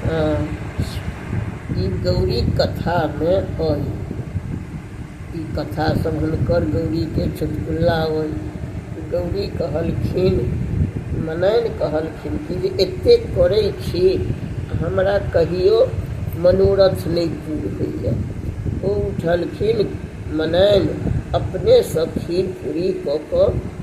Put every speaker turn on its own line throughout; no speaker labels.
ई गौरी कथामे अइ ई कथा सब हुनकर गौरीके चुटकुला अइ गौरी कहलखिन मनैन कहलखिन कि जे एतेक करै छी हमरा कहियो मनोरथ नहि पूर होइए ओ उठलखिन मनैन अपनेसँ खीर पूरी कऽ कऽ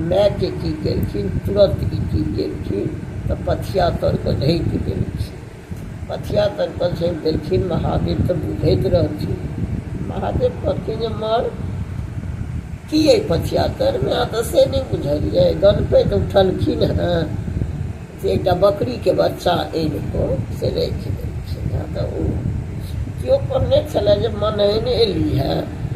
मायके की केलखिन तुरत ई की केलखिन तऽ पथिया तर कऽ ढकि देलखिन पथिया तर कऽ झाँपि देलखिन महादेव तऽ बुझैत रहथिन महादेव कहलखिन जे मर की अइ पथिया तरमे अहाँ तऽ से नहि बुझलियै गणपति उठलखिन हँ से एकटा बकरीके बच्चा आनि कऽ से राखि देलखिन हँ तऽ ओ केओ कहने छलए जे मनैन एली हँ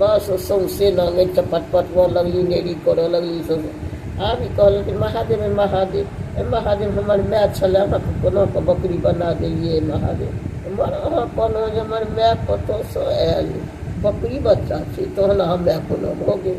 बस सौंसे नंगे चपट पटबऽ लगली नेड़ी करऽ लगली सब आब ई कहलक कि महादेव हे महादेव हे महादेव हमर माय छलै अहाँके कोना कऽ बकरी बना देलियै महादेव हमर अहाँ कहलहुँ जे हमर माय कतऽसँ आयल बकरी बच्चा छै तहन अहाँ माय कोना भऽ गेल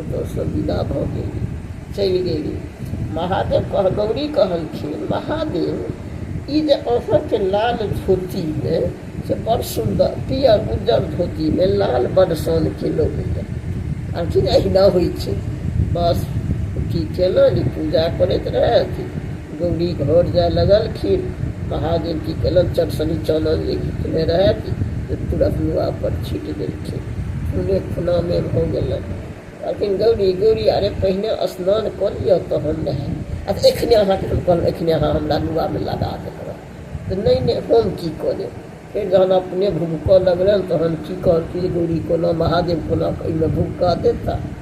ओतऽसँ विदा भऽ गेली चलि गेली महादेव कह गौरी कहलखिन महादेव ई जे अहाँके लाल धोती अइ से बड़ सुन्दर पियर उज्जर धोतीमे लाल बड़ सानके लगैए कहलखिन अहिना होइ छै बस की केलनि पूजा करैत रहथि गौरी घर जाय लगलखिन। महादेव की केलनि चट सनी चानन जे घिचने रहथि से तुरत नुआ पर छीटि देलखिन। खूने खूना मे भऽ गेलनि। कहलखिन गौरी गौरी अरे पहिने स्नान कऽ लिअ तहन नहायब। अच्छा एखने अहाँके हम कहलहुँ एखने अहाँ हमरा नुआ मे लगा देने रहौं। तऽ नहि नहि हम की कऽ लेब। फेर जहन अपने भुभकऽ लगलनि तहन की कहलखिन जे गौरी कोना महादेव कोना एहिमे भुभकऽ देता।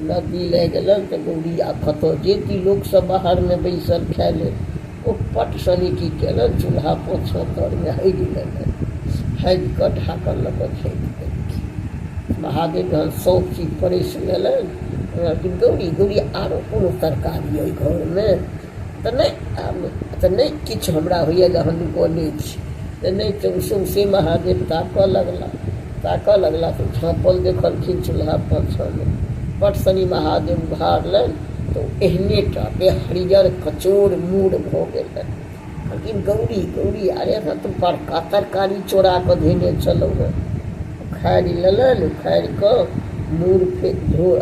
नदी लए गेलनि तँ गौरी आब कतौ जेती। लोक सभ बाहरमे बैसल खाए लेल ओ पट सनेटी केलनि। चूल्हा पोछब घरमे हगि लेलनि। हगि कऽ ढाकन लऽ कऽ झाँपि देलखिन। महादेव जहन सभ चीज परसि लेलनि तँ कहलखिन गौरी, गौरी आरो कोनो तरकारी अइ घरमे? तऽ नहि तऽ नहि किछु हमरा होइए जे हम बजै छी तऽ नहि तऽ ओ सौँसे महादेव ताकय लगलाह ताकय लगलाह तऽ झाँपल देखलखिन चूल्हा पाछाँमे बड्ड शनि महादेव उघारलनि तऽ ओ एहने टा देह हरियर कचोर मूर भऽ गेल रहनि कहलखिन गौरी गौरी अरे हमरा तऽ बड़का तरकारी चोरा कऽ धेने छलहुँ हेँ उखाड़ि लेलनि उखाड़ि कऽ मूर फेर धो